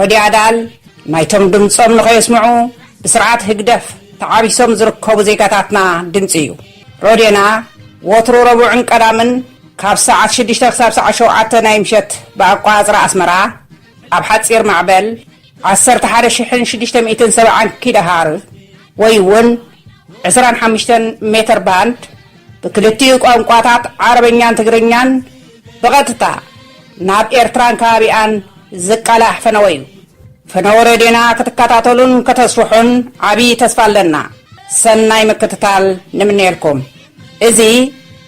ረድዮ ኣዳል ናይቶም ድምጾም ንኸየስምዑ ብስርዓት ህግደፍ ተዓቢሶም ዝርከቡ ዜጋታትና ድምጺ እዩ። ረድዮና ወትሩ ረቡዕን ቀዳምን ካብ ሰዓት ሽዱሽተ ክሳብ ሰዓት ሸውዓተ ናይ ምሸት ብኣቆጻጽራ ኣስመራ ኣብ ሓጺር ማዕበል ዓሰርተ ሓደ ሽሕን ሽዱሽተ ሚእትን ሰብዓን ኪሎሃርዝ፣ ወይ'ውን ዕስራን ሓምሽተን ሜተር ባንድ ብክልቲኡ ቋንቋታት ዓረበኛን ትግርኛን ብቐጥታ ናብ ኤርትራን ከባቢኣን ዝቃላሕ ፈነወ'ዩ። ፈነወ ሬድዮና ክትከታተሉን ከተስፍሑን ዓቢ ተስፋ ኣለና። ሰናይ ምክትታል ንምነየልኩም። እዚ።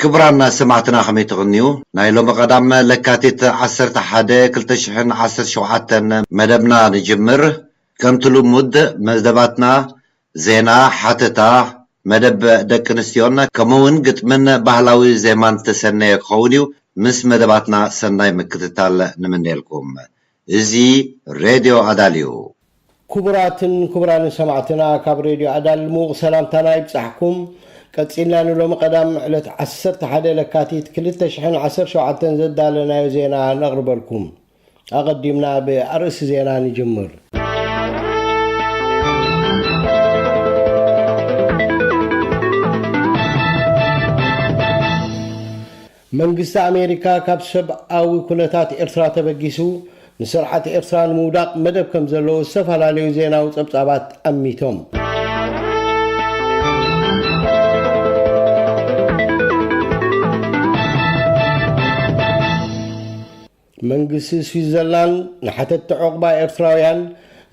ክብራን ሰማዕትና ከመይ ትቅንዩ ናይ ሎሚ ቀዳም ለካቲት ዓሰርተ ሓደ ክልተ ሽሕን ዓሰርተ ሸውዓተን መደብና ንጅምር ከምቲ ልሙድ መደባትና ዜና ሓተታ መደብ ደቂ ኣንስትዮን ከምኡ ውን ግጥምን ባህላዊ ዜማን ዝተሰነየ ክኸውን ዩ ምስ መደባትና ሰናይ ምክትታል ንምነየልኩም እዚ ሬድዮ ኣዳል'ዩ። ኩቡራትን ኩቡራንን ሰማዕትና ካብ ሬድዮ ኣዳል ምዉቕ ሰላምታና ይብጻሕኩም። ቀጺልና ንሎሚ ቀዳም ዕለት ዓሰርተ ሓደ ለካቲት ክልተ ሽሕን ዓሰርተ ሸውዓተን ዘዳለናዮ ዜና ነቕርበልኩም። ኣቐዲምና ብኣርእስቲ ዜና ንጅምር። መንግስቲ ኣሜሪካ ካብ ሰብኣዊ ኩነታት ኤርትራ ተበጊሱ ንስርዓት ኤርትራ ንምውዳቕ መደብ ከም ዘለዎ ዝተፈላለዩ ዜናዊ ጸብጻባት ኣሚቶም። መንግስቲ ስዊዘርላንድ ንሓተትቲ ዑቕባ ኤርትራውያን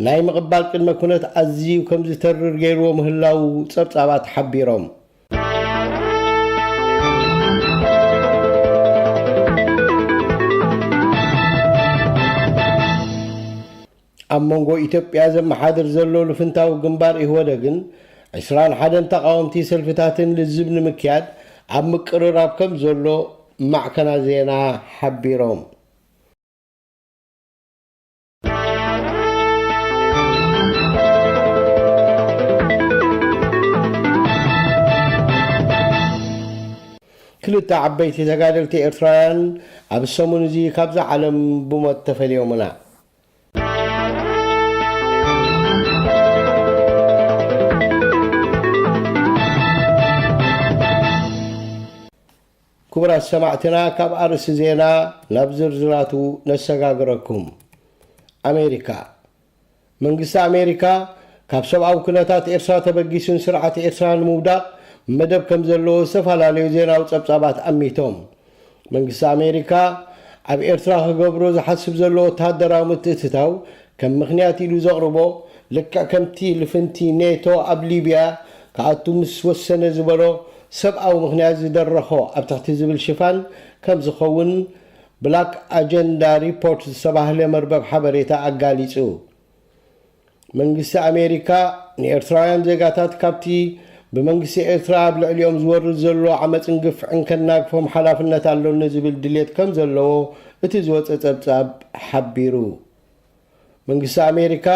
ናይ ምቕባል ቅድመ ኩነት ኣዝዩ ከም ዝተርር ገይርዎ ምህላዉ ጸብጻባት ሓቢሮም። ኣብ መንጎ ኢትዮጵያ ዘመሓድር ዘሎ ልፍንታዊ ግንባር ኢህወደግን ዕስራን ሓደን ተቓወምቲ ሰልፍታትን ልዝብ ንምክያድ ኣብ ምቅርራብ ከም ዘሎ ማዕከናት ዜና ሓቢሮም። ክልተ ዓበይቲ ተጋደልቲ ኤርትራውያን ኣብ ሰሙን እዚ ካብዛ ዓለም ብሞት ተፈልዮምና። ክቡራት ሰማዕትና ካብ ኣርእሲ ዜና ናብ ዝርዝራቱ ነሰጋግረኩም ኣሜሪካ መንግስቲ ኣሜሪካ ካብ ሰብኣዊ ኩነታት ኤርትራ ተበጊሱን ስርዓት ኤርትራ ንምውዳቕ መደብ ከም ዘለዎ ዝተፈላለዩ ዜናዊ ጸብጻባት ኣሚቶም መንግስቲ ኣሜሪካ ኣብ ኤርትራ ክገብሮ ዝሓስብ ዘሎ ወተሃደራዊ ምትእትታው ከም ምኽንያት ኢሉ ዘቕርቦ ልክዕ ከምቲ ልፍንቲ ኔቶ ኣብ ሊብያ ክኣቱ ምስ ወሰነ ዝበሎ ሰብኣዊ ምኽንያት ዝደረኾ ኣብ ትሕቲ ዝብል ሽፋን ከም ዝኸውን ብላክ ኣጀንዳ ሪፖርት ዝተባህለ መርበብ ሓበሬታ ኣጋሊጹ። መንግስቲ ኣሜሪካ ንኤርትራውያን ዜጋታት ካብቲ ብመንግስቲ ኤርትራ ኣብ ልዕሊኦም ዝወርድ ዘሎ ዓመጽን ግፍዕን ከናግፎም ሓላፍነት ኣሎኒ ዝብል ድሌት ከም ዘለዎ እቲ ዝወጸ ጸብጻብ ሓቢሩ። መንግስቲ ኣሜሪካ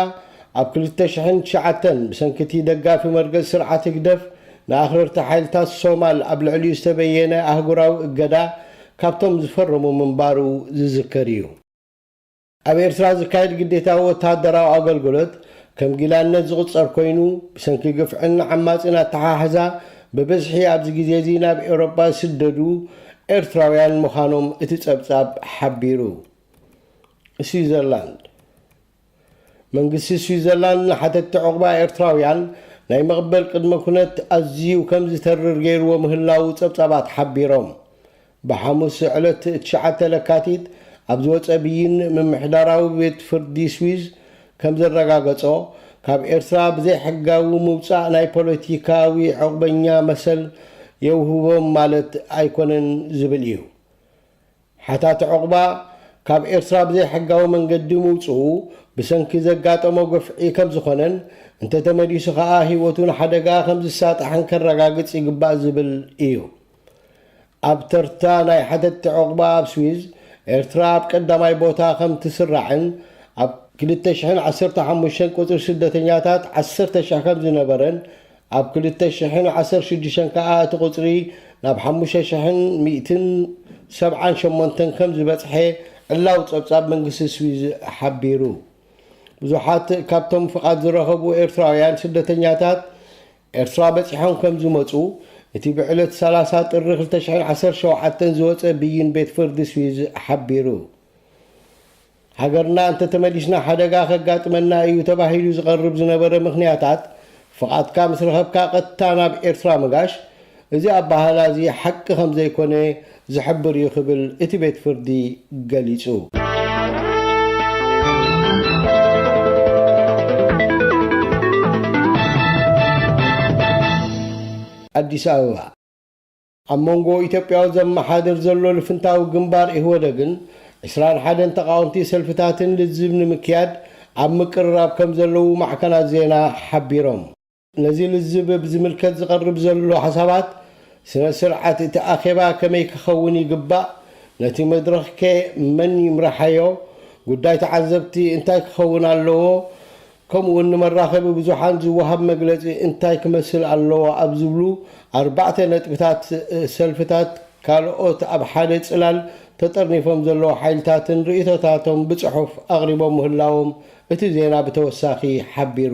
ኣብ ክልተ ሽሕን ትሽዓተን ብሰንኪ እቲ ደጋፊ መርገጺ ስርዓት ህግደፍ ንኣኽረርቲ ሓይልታት ሶማል ኣብ ልዕሊኡ ዝተበየነ ኣህጉራዊ እገዳ ካብቶም ዝፈረሙ ምንባሩ ዝዝከር እዩ። ኣብ ኤርትራ ዝካየድ ግዴታዊ ወተሃደራዊ ኣገልግሎት ከም ጊላነት ዝቑጸር ኮይኑ፣ ብሰንኪ ግፍዕን ዓማጺን ኣተሓሕዛ ብብዝሒ ኣብዚ ግዜ'ዚ ናብ ኤውሮጳ ዝስደዱ ኤርትራውያን ምዃኖም እቲ ጸብጻብ ሓቢሩ። ስዊዘርላንድ መንግስቲ ስዊዘርላንድ ንሓተትቲ ዑቕባ ኤርትራውያን ናይ ምቕበል ቅድመ ኩነት ኣዝዩ ከም ዝተርር ገይርዎ ምህላዉ ጸብጻባት ሓቢሮም። ብሓሙስ ዕለት ትሽዓተ ለካቲት ኣብ ዝወጸ ብይን ምምሕዳራዊ ቤት ፍርዲ ስዊዝ ከም ዘረጋገጾ፣ ካብ ኤርትራ ብዘይሕጋዊ ምውጻእ ናይ ፖለቲካዊ ዑቕበኛ መሰል የውህቦም ማለት ኣይኮነን ዝብል እዩ። ሓታቲ ዑቕባ ካብ ኤርትራ ብዘይሕጋዊ መንገዲ ምውጽኡ ብሰንኪ ዘጋጠሞ ግፍዒ ከም ዝኾነን እንተተመሊሱ ከኣ ህይወቱ ንሓደጋ ከም ዝሳጣሕን ከረጋግጽ ይግባእ ዝብል እዩ። ኣብ ተርታ ናይ ሓተትቲ ዑቕባ ኣብ ስዊዝ፣ ኤርትራ ኣብ ቀዳማይ ቦታ ከም ትስራዕን፣ ኣብ ክልተ ሽሕን ዓሰርተ ሓሙሽተን ቁጽሪ ስደተኛታት ዓሰርተ ሽሕ ከም ዝነበረን፣ ኣብ ክልተ ሽሕን ዓሰርተ ሽዱሽተን ከኣ እቲ ቁጽሪ ናብ ሓሙሽተ ሽሕን ሚእትን ሰብዓን ሸሞንተን ከም ዝበጽሐ ዕላዊ ጸብጻብ መንግስቲ ስዊዝ ሓቢሩ። ብዙሓት ካብቶም ፍቓድ ዝረኸቡ ኤርትራውያን ስደተኛታት፣ ኤርትራ በጺሖም ከም ዝመጹ፣ እቲ ብዕለት ሰላሳ ጥሪ ክልተ ሽሕን ዓሰርተ ሸውዓተን ዝወጸ ብይን ቤት ፍርዲ ስዊዝ ሓቢሩ። ሃገርና እንተተመሊስና ሓደጋ ከጋጥመና እዩ ተባሂሉ ዝቐርብ ዝነበረ ምኽንያታት፣ ፍቓድካ ምስ ረኸብካ ቀጥታ ናብ ኤርትራ ምጋሽ፣ እዚ ኣበሃህላ እዚ ሓቂ ከም ዘይኮነ ዝሕብር እዩ ክብል እቲ ቤት ፍርዲ ገሊጹ። ኣዲስ ኣበባ፣ ኣብ መንጎ ኢትዮጵያዊ ዘመሓድር ዘሎ ልፍንታዊ ግንባር ኢህወደግን ዕስራን ሓደን ተቓወምቲ ሰልፍታትን ልዝብ ንምክያድ ኣብ ምቅርራብ ከም ዘለዉ ማዕከናት ዜና ሓቢሮም። ነዚ ልዝብ ብዝምልከት ዝቐርብ ዘሎ ሓሳባት፣ ስነ ስርዓት እቲ ኣኼባ ከመይ ክኸውን ይግባእ፣ ነቲ መድረኽከ መን ይምራሓዮ፣ ጉዳይ ተዓዘብቲ እንታይ ክኸውን ኣለዎ፣ ከምኡውን ንመራኸቢ ብዙሓን ዝወሃብ መግለጺ እንታይ ክመስል ኣለዎ ኣብ ዝብሉ ኣርባዕተ ነጥብታት ሰልፍታት ካልኦት ኣብ ሓደ ጽላል ተጠርኒፎም ዘለዉ ሓይልታትን ርእይቶታቶም ብጽሑፍ ኣቕሪቦም ምህላዎም እቲ ዜና ብተወሳኺ ሓቢሩ።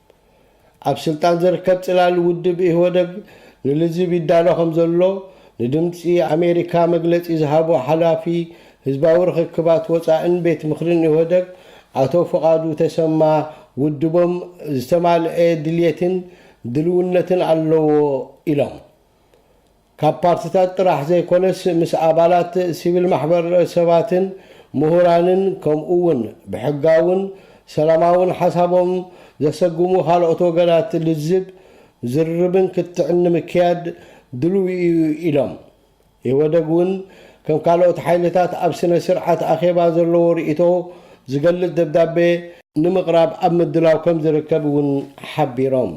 ኣብ ስልጣን ዝርከብ ጽላል ውድብ ኢህወደግ ንልዝብ ይዳሎ ከምዘሎ ንድምጺ ኣሜሪካ መግለጺ ዝሃቡ ሓላፊ ህዝባዊ ርኽክባት ወጻእን ቤት ምኽርን ኢህወደግ ኣቶ ፍቓዱ ተሰማ ውድቦም ዝተማልኤ ድልየትን ድልውነትን ኣለዎ ኢሎም። ካብ ፓርትታት ጥራሕ ዘይኮነስ ምስ ኣባላት ሲቪል ማሕበር ሰባትን ምሁራንን ከምኡ ውን ብሕጋውን ሰላማውን ሓሳቦም ዘሰጉሙ ካልኦት ወገናት ልዝብ፣ ዝርርብን ክትዕን ንምክያድ ድሉው ኢዩ ኢሎም። ኢህወደግ ውን ከም ካልኦት ሓይልታት ኣብ ስነ ስርዓት ኣኼባ ዘለዎ ርኢቶ ዝገልፅ ደብዳቤ ንምቕራብ ኣብ ምድላው ከምዝርከብ ውን ሓቢሮም።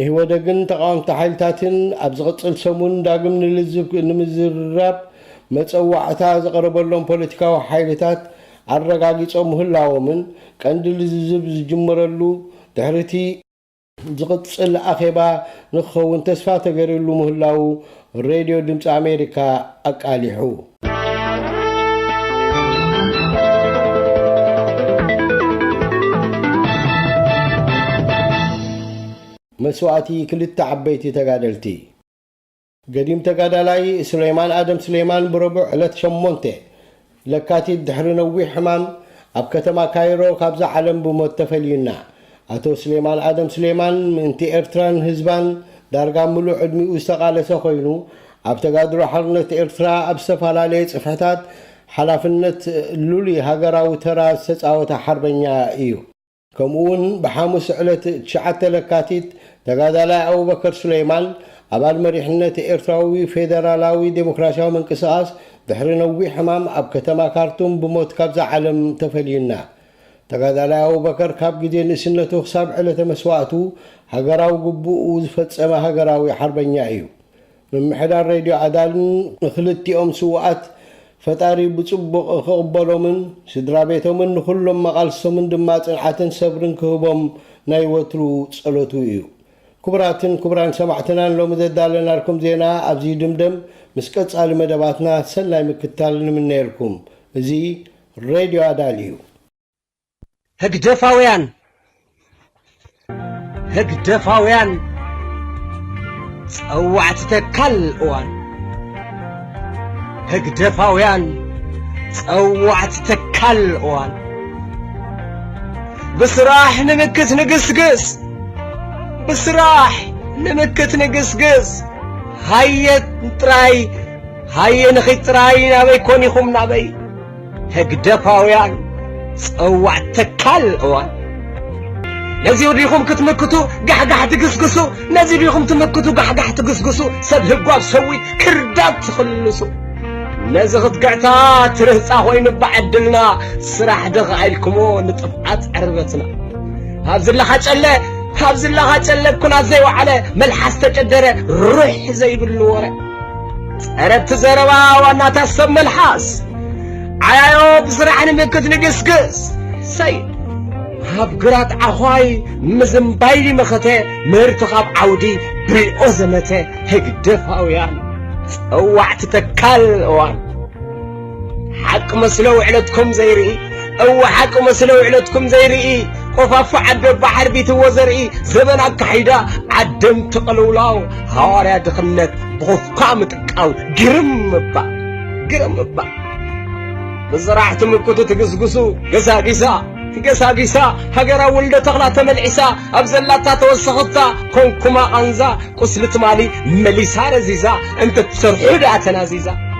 ኢህወደግን ተቓወምቲ ሓይልታትን ኣብ ዝቕፅል ሰሙን ዳግም ንልዝብ ንምዝርራብ መፀዋዕታ ዝቐረበሎም ፖለቲካዊ ሓይልታት ኣረጋጊፆም ምህላዎምን ቀንዲ ልዝብ ዝጅመረሉ ድሕሪ እቲ ዝቕፅል ኣኼባ ንክኸውን ተስፋ ተገይርሉ ምህላዉ ሬድዮ ድምፂ ኣሜሪካ ኣቃሊሑ። መስዋእቲ ክልተ ዓበይቲ ተጋደልቲ! ገዲም ተጋዳላይ ሱሌማን ኣደም ሱሌማን ብረቡዕ ዕለት ሸሞንተ ለካቲት ድሕሪ ነዊሕ ሕማም ኣብ ከተማ ካይሮ ካብዛ ዓለም ብሞት ተፈልዩና። ኣቶ ስሌማን ኣደም ስሌማን ምእንቲ ኤርትራን ህዝባን ዳርጋ ምሉእ ዕድሚኡ ዝተቓለሰ ኮይኑ ኣብ ተጋድሎ ሓርነት ኤርትራ ኣብ ዝተፈላለየ ጽፍሕታት ሓላፍነት ሉሊ ሃገራዊ ተራ ዝተጻወተ ሓርበኛ ኢዩ። ከምኡ እውን ብሓሙስ ዕለት ትሽዓተ ለካቲት ተጋዳላይ ኣቡበከር ሱለይማን ኣባል መሪሕነት ኤርትራዊ ፌደራላዊ ዴሞክራሲያዊ ምንቅስቓስ ድሕሪ ነዊሕ ሕማም ኣብ ከተማ ካርቱም ብሞት ካብዛ ዓለም ተፈልዩና። ተጋዳላይ ኣቡበከር ካብ ግዜ ንእስነቱ ክሳብ ዕለተ መስዋእቱ ሃገራዊ ግቡኡ ዝፈጸመ ሃገራዊ ሓርበኛ እዩ። ምምሕዳር ሬድዮ ኣዳልን ንክልቲኦም ስውኣት ፈጣሪ ብጽቡቕ ክቕበሎምን ስድራቤቶምን ንኹሎም መቓልስቶምን ድማ ጽንዓትን ሰብርን ክህቦም ናይ ወትሩ ጸሎቱ ኢዩ። ክቡራትን ክቡራን ሰማዕትና ንሎሚ ዘዳለናልኩም ዜና ኣብዚ ይድምደም ምስ ቀጻሊ መደባትና ሰናይ ምክትታል ንምነየልኩም። እዚ ሬድዮ ኣዳል ኢዩ። ህግደፋውያን ህግደፋውያን ጸዋዕቲ ተካል እዋን ህግደፋውያን ጸዋዕቲ ተካል እዋን ብስራሕ ንምክት ንግስግስ ብስራሕ ንምክት ንግስግስ ሃየ ጥራይ ሃየ ንኺድ ጥራይ ናበይ ኮን ኢኹም ናበይ ህግደፋውያን ጸዋዕ ተካል እዋን ነዚ ዲኹም ክትምክቱ ጋሕጋሕ ትግስግሱ ነዚ ዲኹም ትምክቱ ጋሕጋሕ ትግስግሱ ሰብ ህጓብ ሰዊ ክርዳት ትኽልሱ ነዚ ክትግዕታ ትርህፃ ኮይኑ ብዓድልና ስራሕ ድኻ ኢልክሞ ንጥፍዓት ዕርበትና ኣብዚ ኣለኻ ጨለ ኣብዚ ኣለኻ ጨለ ኩናት ዘይወዓለ መልሓስ ተጨደረ ሩሕ ዘይብሉ ወረ ጸረብቲ ዘረባ ዋናታት ሰብ መልሓስ ዓያዮ ብስራሕ ንምክት ንግስግስ ሰይድ ኣብ ግራት ዓዃይ ምዝምባይ መኸተ ምህርቲ ካብ ዓውዲ ብሪኦ ዘመተ ህግደፋውያን ጸዋዕቲ ተካል እዋን ሓቂ መስሎ ውዕለትኩም ዘይርኢ እወ ሓቂ መስሎ ውዕለትኩም ዘይርኢ ቆፋፎ ዓደ ኣባ ሓርቢትዎ ዘርኢ ዘበን ኣካሒዳ ዓደምቲ ቅልውላው ሃዋርያ ድኽነት ብኹፍኳ ምጥቃው ግርም እባ ግርም እባ ብስራሕ ትምክቱ ትግስግሱ ገሳጊሳ ገሳጊሳ ሃገራ ውልደ ተኽላ ተመልዒሳ ኣብ ዘላታ ተወሰኽታ ኮንኩማ ቃንዛ ቁስሊ ትማሊ መሊሳ ረዚዛ እንተትሰርሑ ደኣ ተናዚዛ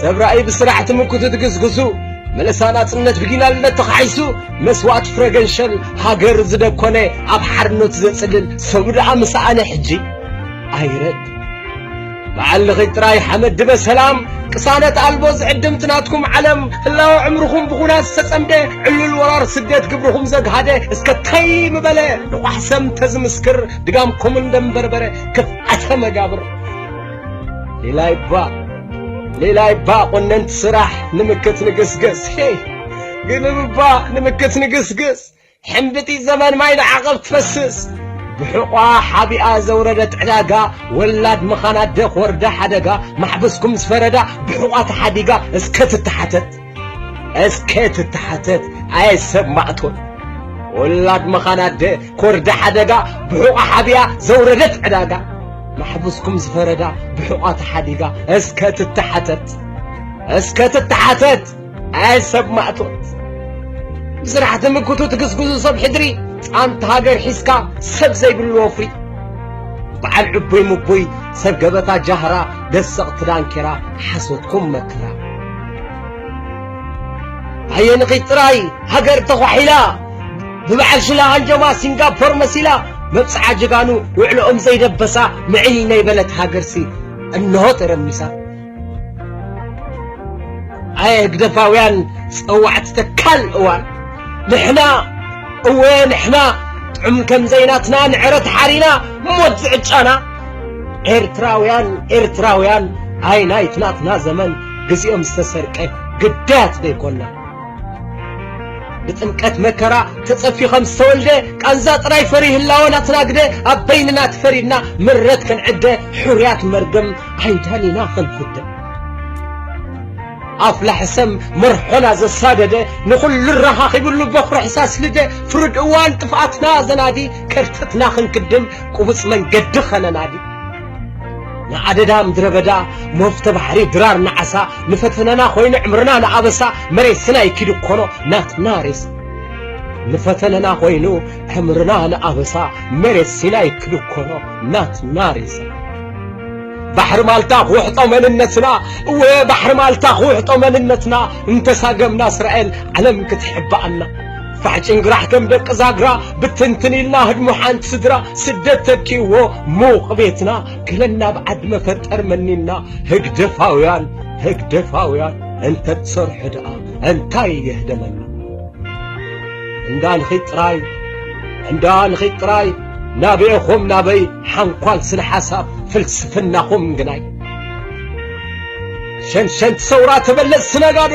ሰብ ራእይ ብስራሕ ትምክቱ ትግዝግዙ መለሳ ናጽነት ብጊላልነት ተኻሒሱ መስዋእት ፍረ ገንሸል ሃገር ዝደኮነ ኣብ ሓርነት ዘጽልል ሰቡ ደኣ ምሰኣነ ሕጂ ኣይረድ በዓል ልኺ ጥራይ ሓመድ ድበ ሰላም ቅሳነት ኣልቦ ዝዕድምቲ ናትኩም ዓለም ህላወ ዕምርኹም ብኹናት ዝተጸምደ ዕሉል ወራር ስደት ግብርኹም ዘግሃደ እስከ ታይ ምበለ ንቋሕ ሰም ተዝምስክር ድጋምኩምን ደምበርበረ ክፍኣተ መጋብር ሌላይባ ሌላይባ ቆነንቲ ስራሕ ንምክት ንግስግስ ግልብባ ንምክት ንግስግስ ሕምብጢ ዘመን ማይ ንዓቐብ ትፈስስ ብሕቋ ሓቢኣ ዘውረደት ዕዳጋ ወላድ ምኻና ደኽ ወርዳ ሓደጋ ማሕበስኩም ዝፈረዳ ብሕቋ ተሓዲጋ እስከ ትተሓተት እስከ ትተሓተት ኣየ ሰብ ማእቶት ወላድ መኻን ኣደ ኮርዳ ሓደጋ ብሑቓ ሓቢያ ዘውረደት ዕዳጋ ማሕቡስኩም ዝፈረዳ ብሑቓ ተሓዲጋ እስከ ትተሓተት እስከ ትተሓተት ኣየ ሰብ ማእቶት ብስራሕ ትምክቱ ትግስግዙ ሰብ ሕድሪ ጻንት ሃገር ሒዝካ ሰብ ዘይብሉ ወፍሪ በዓል ዕቡይ ምቡይ ሰብ ገበታ ጃህራ ደሰቕቲ ዳንኬራ ሓሶትኩም መከራ ኣየንኺት ጥራይ ሃገር ተዃሒላ ብበዓል ሽላ ሃንጀማ ሲንጋፖር መሲላ መብጽዓ ጀጋኑ ውዕሎኦም ዘይደበሳ ምዕይ ናይ በለት ሃገርሲ እንሆ ተረሚሳ ኣየ ህግደፋውያን ጸዋዕቲ ተካል እዋን ንሕና እወ ንሕና ጥዑም ከም ዘይናትና ንዕረት ሓሪና ሞት ዝዕጫና ኤርትራውያን ኤርትራውያን ኣይ ናይትናትና ዘመን ግዜኦም ዝተሰርቀ ግዳያት ዶ ኣይኮናን? ብጥምቀት መከራ ተጸፊ ከም ዝተወልደ ቃንዛ ጥራይ ፈሪ ህላወ ናትናግደ ኣብ በይንና ትፈሪድና ምረት ክንዕደ ሕሩያት መርገም ዓይዳን ኢና ክንፍደ ኣፍላሕ ሰም መርሖና ዘሳደደ ንኹሉ ረኻኺብሉ በኹሪ ሕሳስ ልደ ፍርድ እዋን ጥፍኣትና ዘናዲ ከርተትና ክንክድም ቁቡጽ መንገዲ ኸነናዲ ንኣደዳ ምድረበዳ መፍቶ ባሕሪ ድራር ንዓሳ ንፈተናና ኮይኑ ዕምርና ንኣበሳ መሬት ስናይ ኪዱ ኮኖ ናትና ሬስ ንፈተነና ኮይኑ ዕምርና ንኣበሳ መሬት ሲናይ ኪዱ ኮኖ ናትና ሬሳ ባሕሪ ማልታ ክውሕጦ መንነትና እወ ባሕሪ ማልታ ክውሕጦ መንነትና እንተሳገምና እስራኤል ዓለም ክትሕባኣና ፋሕ ጭንግራሕ ከም ደቂ ዛግራ ብትንትን ኢልና ህድሞ ሓንቲ ስድራ ስደት ተኪዎ ሙቕ ቤትና ገለና ብ ዓዲ መፈጠር መኒና ህግደፋውያን ህግደፋውያን እንተ ትሰርሑ ደኣ እንታይ የህደመና እንዳ ንኺድ ጥራይ እንዳ ንኺድ ጥራይ ናበኤኹም ናበይ ሓንኳል ስነ ሓሳብ ፍልስፍናኹም ግናይ ሸንሸንቲ ሰውራ ተበለጽቲ ነጋዶ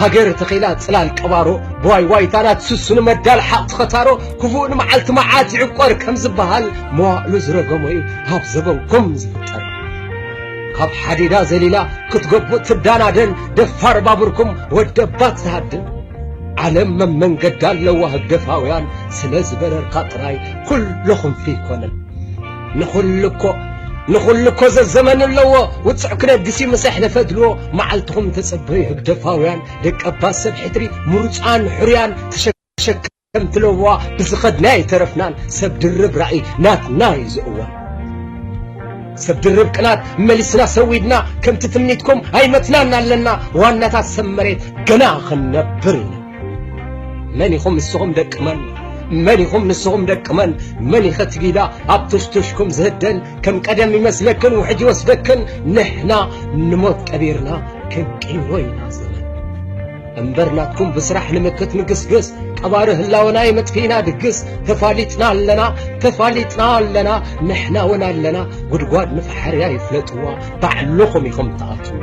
ሃገር ተኺላ ጽላል ቀባሮ ብዋይ ዋይታ ናትስሱ ንመዳል ሓቕ ትኸታሮ ክፉእ ንመዓልቲ መዓት ይዕቆር ከም ዝበሃል መዋእሉ ዝረገሞ እዩ ኣብ ዘበንኩም ዝፍጠር ካብ ሓዲዳ ዘሊላ ክትገቡ ትዳናደን ደፋር ባቡርኩም ወደባት ዝሃድን ዓለም መመንገዳ ኣለዋ ህግደፋውያን ስለ ዝበረርካ ጥራይ ኩሎኹም ፍይ ኮነን ንኹሉ እኮ ንኹሉ እኮ ዘዘመን ኣለዎ ውፅዕ ክነግሲ ምስ ኣሕለፈ ድልዎ መዓልትኹም ተፀበዩ ህግደፋውያን ደቂ ኣባት ሰብ ሕድሪ ምሩፃን ሕሩያን ተሸከምቲ ለበዋ ብዝኸድናዮ ኣይተረፍናን ሰብ ድርብ ራእይ ናትና እዩ ዝእወን ሰብ ድርብ ቅናት መሊስና ሰዊድና ከምቲ ትምኒትኩም ኣይመትናን ኣለና ዋናታት ሰብ መሬት ገና ክንነብር ኢና መን ኢኹም ንስኹም ደቂ መን መን ኢኹም ንስኹም ደቂ መን መን ኢኸ ትጊዳ ኣብ ቱሽቱሽኩም ዝህደን ከም ቀደም ይመስለክን ውሕጅ ይወስደክን ንሕና ንሞት ቀቢርና ክንቅይሮ ኢና ዘመን እምበር ናትኩም ብስራሕ ንምክት ንግስግስ ቀባሪ ህላወና የመጥፊእና ድግስ ተፋሊጥና ኣለና ተፋሊጥና ኣለና ንሕና እውን ኣለና ጉድጓድ ንፈሓርያ ይፍለጥዋ ባዕልኹም ኢኹም ትኣትዋ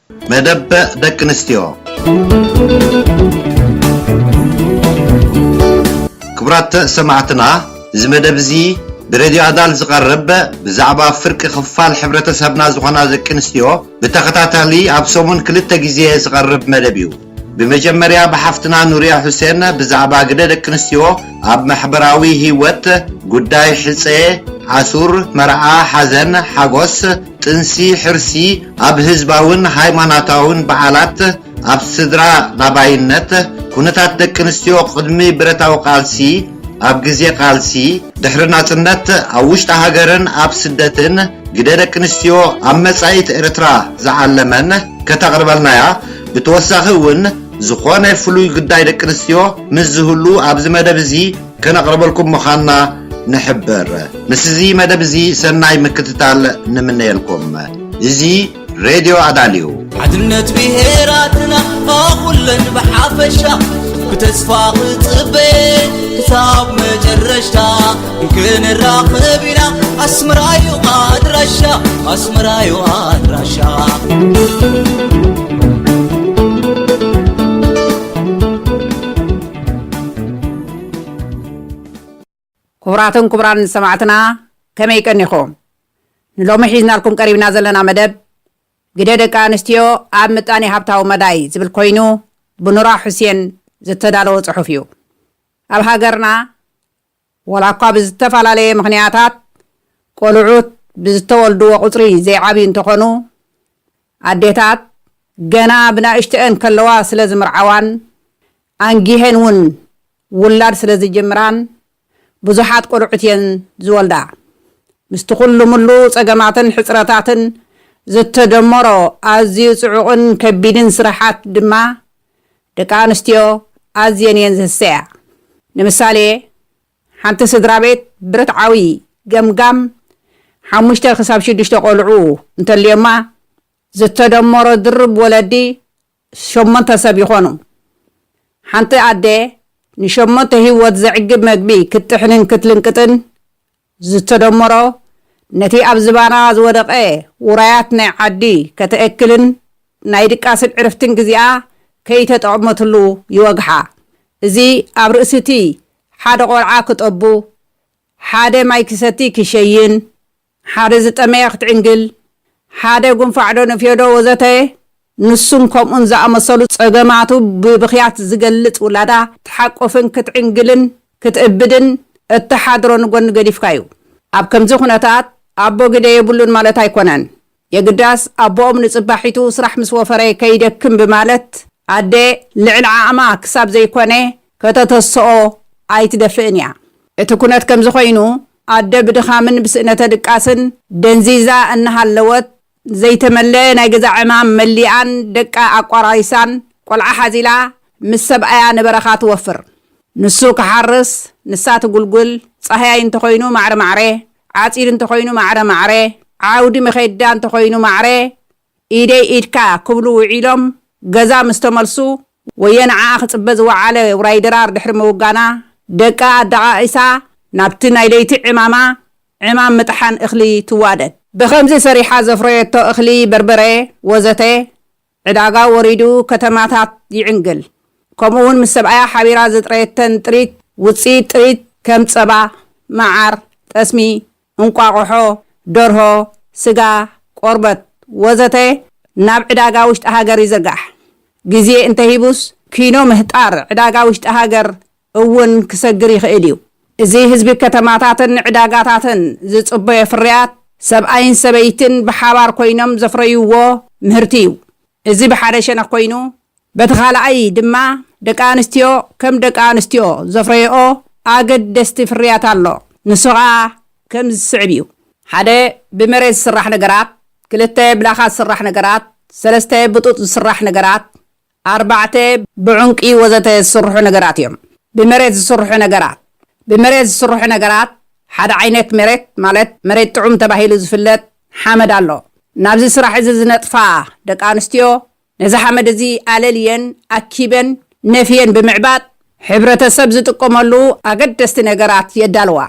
መደበ ደቂ ኣንስትዮ ክቡራት ሰማዕትና እዚ መደብ እዚ ብሬድዮ ኣዳል ዝቐርብ ብዛዕባ ፍርቂ ክፋል ሕብረተሰብና ዝኾና ደቂ ኣንስትዮ ብተኸታታሊ ኣብ ሰሙን ክልተ ግዜ ዝቐርብ መደብ እዩ። ብመጀመርያ ብሓፍትና ኑርያ ሑሴን ብዛዕባ ግደ ደቂ ኣንስትዮ ኣብ ማሕበራዊ ሂወት፣ ጉዳይ ሕጸ፣ ኣሱር፣ መርዓ፣ ሓዘን፣ ሓጎስ፣ ጥንሲ፣ ሕርሲ፣ ኣብ ህዝባውን ሃይማናታውን በዓላት፣ ኣብ ስድራ ላባይነት፣ ኩነታት ደቂ ኣንስትዮ ቅድሚ ብረታዊ ቃልሲ፣ ኣብ ግዜ ቃልሲ፣ ድሕሪ ናጽነት፣ ኣብ ውሽጢ ሃገርን ኣብ ስደትን፣ ግደ ደቂ ኣንስትዮ ኣብ መጻኢት ኤርትራ ዝዓለመን ከተቕርበልናያ ብተወሳኺ እውን ዝኾነ ፍሉይ ግዳይ ደቂ ኣንስትዮ ምስ ዝህሉ ኣብዚ መደብ እዚ ከነቕርበልኩም ምዃንና ንሕብር። ምስ እዚ መደብ እዚ ሰናይ ምክትታል ንምነየልኩም። እዚ ሬድዮ ኣዳል እዩ። ሓድነት ብሄራትና ኣኹለን ብሓፈሻ ብተስፋ ክጽበ ክሳብ መጨረሽታ ክንራኸብ ኢና ኣስመራዩ ኣድራሻ ኣስመራዩ ኣድራሻ ክቡራትን ክቡራን ሰማዕትና ከመይ ቀኒኹም ንሎሚ ሒዝናልኩም ቀሪብና ዘለና መደብ ግደ ደቂ ኣንስትዮ ኣብ ምጣኔ ሃብታዊ መዳይ ዝብል ኮይኑ ብኑራ ሑሴን ዝተዳለወ ጽሑፍ እዩ ኣብ ሃገርና ዋላ'ኳ ብዝተፈላለየ ምኽንያታት ቆልዑት ብዝተወልድዎ ቁጽሪ ዘይዓብዩ እንተኾኑ፣ ኣዴታት ገና ብናእሽተኤን ከለዋ ስለ ዝምርዓዋን ኣንጊሀን ውን ውላድ ስለ ዝጅምራን ብዙሓት ቆልዑት እየን ዝወልዳ። ምስቲ ኩሉ ምሉ ጸገማትን ሕጽረታትን ዝተደመሮ ኣዝዩ ጽዑቕን ከቢድን ስራሓት ድማ ደቂ ኣንስትዮ ኣዝየን እየን ዝህሰያ። ንምሳሌ፣ ሓንቲ ስድራ ቤት ብርትዓዊ ገምጋም ሓሙሽተ ክሳብ ሽዱሽተ ቆልዑ እንተልዮማ፣ ዝተደመሮ ድርብ ወለዲ ሸሞንተ ሰብ ይኾኑ። ሓንቲ ኣደ ንሸሞንተ ህይወት ዘዕግብ መግቢ ክትጥሕንን ክትልንቅጥን ዝተደመሮ ነቲ ኣብ ዝባና ዝወደቐ ውራያት ናይ ዓዲ ከተእክልን ናይ ድቃስን ዕርፍትን ግዜኣ ከይተጠቕመትሉ ይወግሓ። እዚ ኣብ ርእሲ'ቲ ሓደ ቆልዓ ክጠቡ፣ ሓደ ማይ ክሰቲ ክሸይን፣ ሓደ ዝጠመየ ክትዕንግል፣ ሓደ ጉንፋዕ'ዶ ንፍዮ'ዶ ወዘተ ንሱን ከምኡን ዝኣመሰሉ ጸገማቱ ብብኽያት ዝገልጽ ውላዳ ትሓቁፍን ክትዕንግልን ክትእብድን እትሓድሮ ንጎኒ ገዲፍካ እዩ። ኣብ ከምዚ ኩነታት ኣቦ ግደ የብሉን ማለት ኣይኮነን። የግዳስ ኣቦኦም ንጽባሒቱ ስራሕ ምስ ወፈረ ከይደክም ብማለት ኣደ ልዕሊ ዓቕማ ክሳብ ዘይኮነ ከተተስኦ ኣይትደፍእን እያ። እቲ ኩነት ከምዚ ኮይኑ ኣደ ብድኻምን ብስእነተ ድቃስን ደንዚዛ እናሃለወት ዘይተመለኣ ናይ ገዛ ዕማም መሊኣን ደቃ ኣቋራሪሳን ቆልዓ ሓዚላ ምስ ሰብኣያ ንበረኻ ትወፍር። ንሱ ክሓርስ ንሳ ትጉልጉል፣ ጻህያይ እንተኾይኑ ማዕረ ማዕረ፣ ዓጺድ እንተኾይኑ ማዕረ ማዕረ፣ ዓውዲ መዄዳ እንተኾይኑ ማዕረ ኢደይ ኢድካ ክብሉ ውዒሎም ገዛ ምስ ተመልሱ ወየ ንዓኣ ክጽበ ዝወዓለ ውራይ ድራር ድሕሪ ምውጋና ደቃ ኣደቓቒሳ ናብቲ ናይ ለይቲ ዕማማ ዕማም ምጥሓን እኽሊ ትዋደድ። ብኸምዚ ሰሪሓ ዘፍረየቶ እኽሊ በርበረ ወዘተ ዕዳጋ ወሪዱ ከተማታት ይዕንግል። ከምኡ'ውን ምስ ሰብኣያ ሓቢራ ዘጥረየተን ጥሪት ውጽኢት ጥሪት ከም ጸባ፣ መዓር፣ ጠስሚ፣ እንቋቑሖ፣ ደርሆ፣ ስጋ፣ ቆርበት ወዘተ ናብ ዕዳጋ ውሽጢ ሃገር ይዝርጋሕ። ግዜ እንተሂቡስ ኪኖ ምህጣር ዕዳጋ ውሽጢ ሃገር እውን ክሰግር ይኽእል እዩ። እዚ ህዝቢ ከተማታትን ንዕዳጋታትን ዝጽበዮ ፍርያት ሰብኣይን ሰበይትን ብሓባር ኮይኖም ዘፍረይዎ ምህርቲ እዩ። እዚ ብሓደ ሸነኽ ኮይኑ በቲ ካልኣይ ድማ ደቂ ኣንስትዮ ከም ደቂ ኣንስትዮ ዘፍረየኦ ኣገደስቲ ፍርያት ኣሎ። ንሱ ከኣ ከምዚ ዝስዕብ እዩ። ሓደ ብመሬት ዝስራሕ ነገራት፣ ክልተ ብላኻ ዝስራሕ ነገራት፣ ሰለስተ ብጡጥ ዝስራሕ ነገራት፣ ኣርባዕተ፣ ብዑንቂ ወዘተ ዝስርሑ ነገራት እዮም። ብመሬት ዝስርሑ ነገራት፣ ብመሬት ዝስርሑ ነገራት፣ ሓደ ዓይነት መሬት ማለት መሬት ጥዑም ተባሂሉ ዝፍለጥ ሓመድ ኣሎ። ናብዚ ስራሕ እዚ ዝነጥፋ ደቂ ኣንስትዮ ነዚ ሓመድ እዚ ኣለልየን፣ ኣኪበን፣ ነፍየን ብምዕባጥ ሕብረተሰብ ዝጥቀመሉ ኣገደስቲ ነገራት የዳልዋ።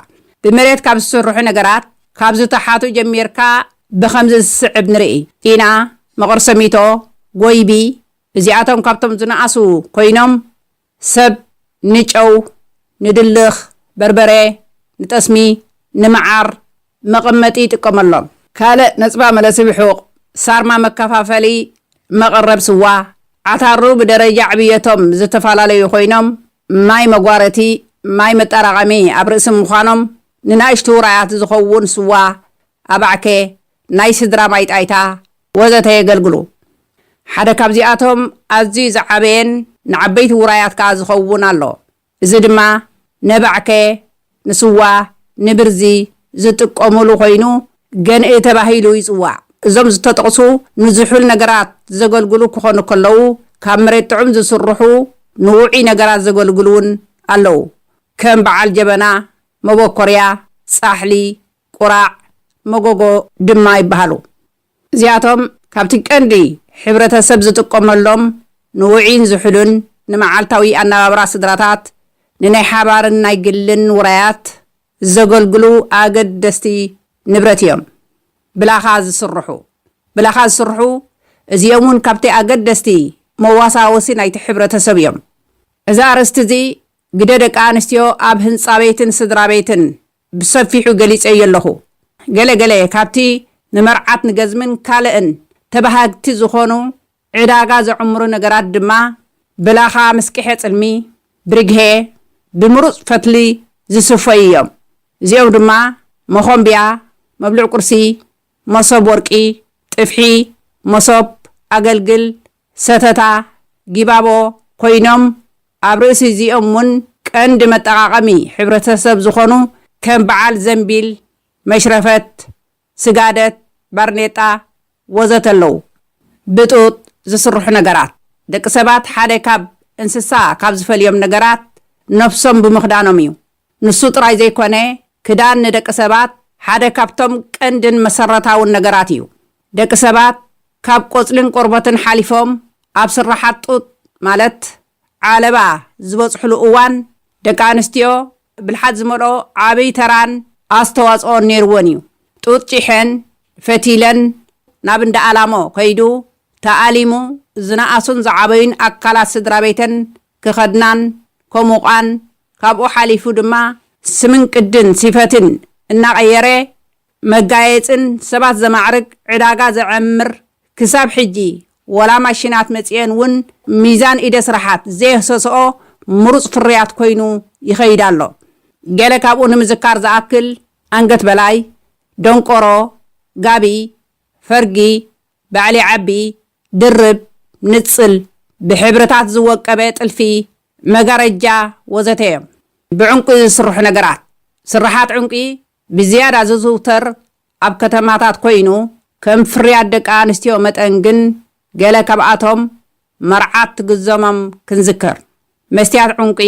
ብመሬት ካብ ዝስርሑ ነገራት ካብ ዝተሓቱ ጀሚርካ ብኸምዚ ዝስዕብ ንርኢ ኢና። መቐርሰሚቶ፣ ጎይቢ፣ እዚኣቶም ካብቶም ዝነኣሱ ኮይኖም ሰብ ንጨው፣ ንድልኽ፣ በርበረ፣ ንጠስሚ፣ ንመዓር መቐመጢ ይጥቀመሎም። ካልእ ነጽባ መለስብሑቕ፣ ሳርማ መከፋፈሊ መቐረብ ስዋ፣ ዓታሩ ብደረጃ ዕብየቶም ዝተፈላለዩ ኮይኖም ማይ መጓረቲ፣ ማይ መጣራቐሚ ኣብ ርእሲ ምዃኖም ንናእሽቱ ውራያት ዝኸውን ስዋ ኣባዕከ፣ ናይ ስድራ ማይ ጣይታ፣ ወዘተ የገልግሉ። ሓደ ካብዚኣቶም ኣዝዩ ዝዓበየን ንዓበይቲ ውራያት ከኣ ዝኸውን ኣሎ። እዚ ድማ ነባዕከ፣ ንስዋ፣ ንብርዚ፣ ዝጥቀሙሉ ኮይኑ ገንኢ ተባሂሉ ይጽዋዕ። እዞም ዝተጠቕሱ ንዝሑል ነገራት ዘገልግሉ ክኾኑ ከለዉ፣ ካብ መሬት ጥዑም ዝስርሑ ንውዑይ ነገራት ዘገልግሉ'ውን ኣለዉ። ከም በዓል ጀበና፣ መበኮርያ፣ ጻሕሊ፣ ቁራዕ፣ መጎጎ ድማ ይበሃሉ። እዚኣቶም ካብቲ ቀንዲ ሕብረተሰብ ዝጥቀመሎም ንውዑይን ዝሑልን ንመዓልታዊ ኣነባብራ ስድራታት ንናይ ሓባርን ናይ ግልን ውራያት ዘገልግሉ ኣገደስቲ ንብረት እዮም። ብላኻ ዝስርሑ፣ ብላኻ ዝስርሑ እዚኦም እውን ካብቲ ኣገደስቲ መዋሳወሲ ናይቲ ሕብረተሰብ እዮም። እዚ ኣርእስቲ እዚ ግደ ደቂ ኣንስትዮ ኣብ ህንጻ ቤትን ስድራቤትን ብሰፊሑ ገሊጸዮ ኣለኹ። ገለ ገለ ካብቲ ንመርዓት ንገዝምን ካልእን ተበሃግቲ ዝኾኑ ዕዳጋ ዘዕምሩ ነገራት ድማ ብላኻ ምስቅሔ ጽልሚ፣ ብርግሔ፣ ብምሩጽ ፈትሊ ዝስፈዩ እዮም። እዚኦም ድማ መኾምብያ፣ መብልዕ ቁርሲ፣ መሶብ ወርቂ፣ ጥፍሒ፣ መሶብ፣ ኣገልግል፣ ሰተታ፣ ጊባቦ፣ ኮይኖም፣ ኣብ ርእሲ እዚኦም ውን ቀንዲ መጠቓቐሚ ሕብረተሰብ ዝኾኑ ከም በዓል ዘንቢል፣ መሽረፈት፣ ስጋደት፣ ባርኔጣ ወዘተ ኣለዉ። ብጡጥ ዝስርሑ ነገራት፣ ደቂ ሰባት ሓደ ካብ እንስሳ ካብ ዝፈልዮም ነገራት ነብሶም ብምኽዳኖም እዩ። ንሱ ጥራይ ዘይኮነ ክዳን ንደቂ ሰባት ሓደ ካብቶም ቀንድን መሰረታውን ነገራት እዩ። ደቂ ሰባት ካብ ቆጽልን ቆርበትን ሓሊፎም ኣብ ስርሓት ጡጥ ማለት ዓለባ ዝበጽሑሉ እዋን ደቂ ኣንስትዮ ብልሓት ዝመልኦ ዓብይ ተራን ኣስተዋጽኦን ነይርወን እዩ። ጡጥ ጪሐን ፈቲለን ናብ እንዳ ኣላሞ ከይዱ ተኣሊሙ ዝነኣሱን ዝዓበዩን ኣካላት ስድራቤተን ክኸድናን ከሙቓን ካብኡ ሓሊፉ ድማ ስምን ቅድን ሲፈትን እናቐየረ መጋየጽን ሰባት ዘማዕርግ ዕዳጋ ዘዐምር ክሳብ ሕጂ ወላ ማሺናት መጺኤን ውን ሚዛን ኢደ ስራሓት ዘየህሰሰኦ ምሩጽ ፍርያት ኮይኑ ይኸይድ ኣሎ። ገለ ካብኡ ንምዝካር ዝኣክል ኣንገት በላይ፣ ደንቆሮ፣ ጋቢ፣ ፈርጊ፣ ባዕሊ ዓቢ፣ ድርብ፣ ንጽል፣ ብሕብርታት ዝወቀበ ጥልፊ፣ መጋረጃ ወዘተ እዮም። ብዕንቊ ዝስርሑ ነገራት፣ ስርሓት ዕንቊ ብዝያዳ ዝዝውተር ኣብ ከተማታት ኮይኑ፣ ከም ፍርያት ደቂ ኣንስትዮ መጠን ግን ገለ ካብኣቶም መርዓት ትግዘሞም ክንዝክር፣ መስትያት ዑንቂ፣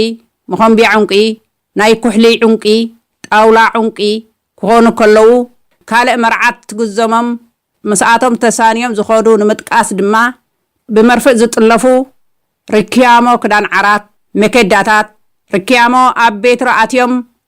መኾምብያ ዑንቂ፣ ናይ ኩሕሊ ዑንቂ፣ ጣውላ ዑንቂ፣ ክኾኑ ከለዉ፣ ካልእ መርዓት ትግዘሞም ምስኣቶም ተሳንዮም ዝኸዱ ንምጥቃስ ድማ ብመርፍእ ዝጥለፉ ርክያሞ ክዳን ዓራት፣ መከዳታት፣ ርክያሞ ኣብ ቤትሮ ኣትዮም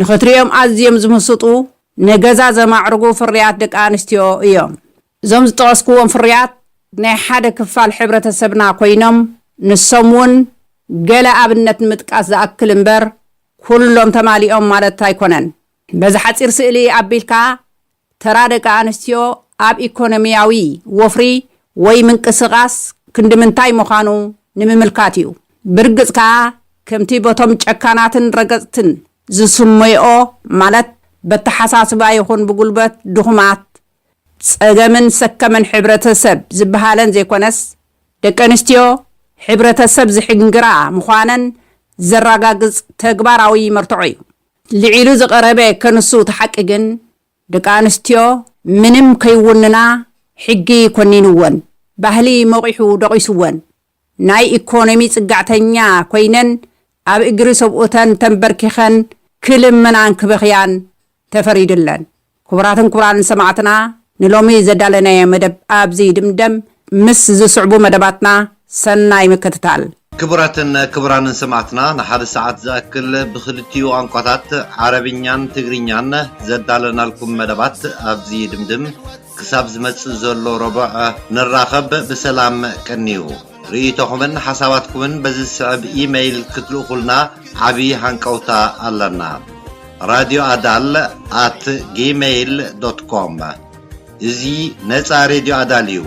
ንኽትርእዮም ኣዝዮም ዝምስጡ፣ ንገዛ ዘማዕርጉ ፍርያት ደቂ ኣንስትዮ እዮም። እዞም ዝጠቐስኩዎም ፍርያት ናይ ሓደ ክፋል ሕብረተሰብና ኮይኖም፣ ንሶም እውን ገለ ኣብነት ንምጥቃስ ዝኣክል እምበር ኩሎም ተማሊኦም ማለት ኣይኮነን። በዚ ሓጺር ስእሊ ኣቢልካ ተራ ደቂ ኣንስትዮ ኣብ ኢኮኖሚያዊ ወፍሪ ወይ ምንቅስቓስ ክንዲ ምንታይ ምዃኑ ንምምልካት እዩ። ብርግጽ ከኣ ከምቲ በቶም ጨካናትን ረገጽትን ዝስመይኦ ማለት በተሓሳስባ ይኹን ብጉልበት ድኹማት፣ ጸገምን ሰከምን ሕብረተሰብ ዝበሃለን ዘይኮነስ፣ ደቂ ኣንስትዮ ሕብረተሰብ ዝሕንግራ ምዃነን ዘራጋግጽ ተግባራዊ መርትዖ እዩ። ልዒሉ ዝቐረበ ከንሱ እቲ ሓቂ ግን ደቂ ኣንስትዮ ምንም ከይውንና ሕጊ ኮኒንወን፣ ባህሊ ሞቒሑ ደቒሱወን፣ ናይ ኢኮኖሚ ፅግዕተኛ ኮይነን ኣብ እግሪ ሰብኡተን ተንበርኪኸን ክልምናን ክበኽያን ተፈሪድለን። ክቡራትን ክቡራንን ሰማዕትና ንሎሚ ዘዳለናዮ መደብ ኣብዚ ይድምደም፣ ምስ ዝስዕቡ መደባትና ሰናይ ምክትታል። ክቡራትን ክቡራንን ሰማዕትና ንሓደ ሰዓት ዝኣክል ብኽልቲኡ ቛንቋታት ዓረብኛን ትግርኛን ዘዳለናልኩም መደባት ኣብዚ ይድምድም ክሳብ ዝመጽእ ዘሎ ረቡዕ ንራኸብ ብሰላም ቀንዩ። ርእይቶኹምን ሓሳባትኩምን በዚ ዝስዕብ ኢ-መይል ክትልእኹልና ዓቢ ሃንቀውታ ኣለና፣ ራድዮ ኣዳል ኣት ጊመይል ዶት ኮም። እዚ ነጻ ሬድዮ ኣዳል እዩ፣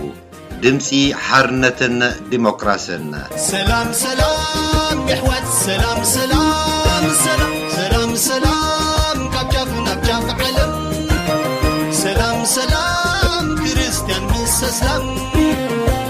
ድምጺ ሓርነትን ዲሞክራስን። ሰላም ሰላም የሕዋት ሰላም ሰላም ሰላም ሰላም ሰላም ካብ ጫፍ ናብ ጫፍ ዓለም ሰላም ሰላም ክርስትያን ምስ ኣስላም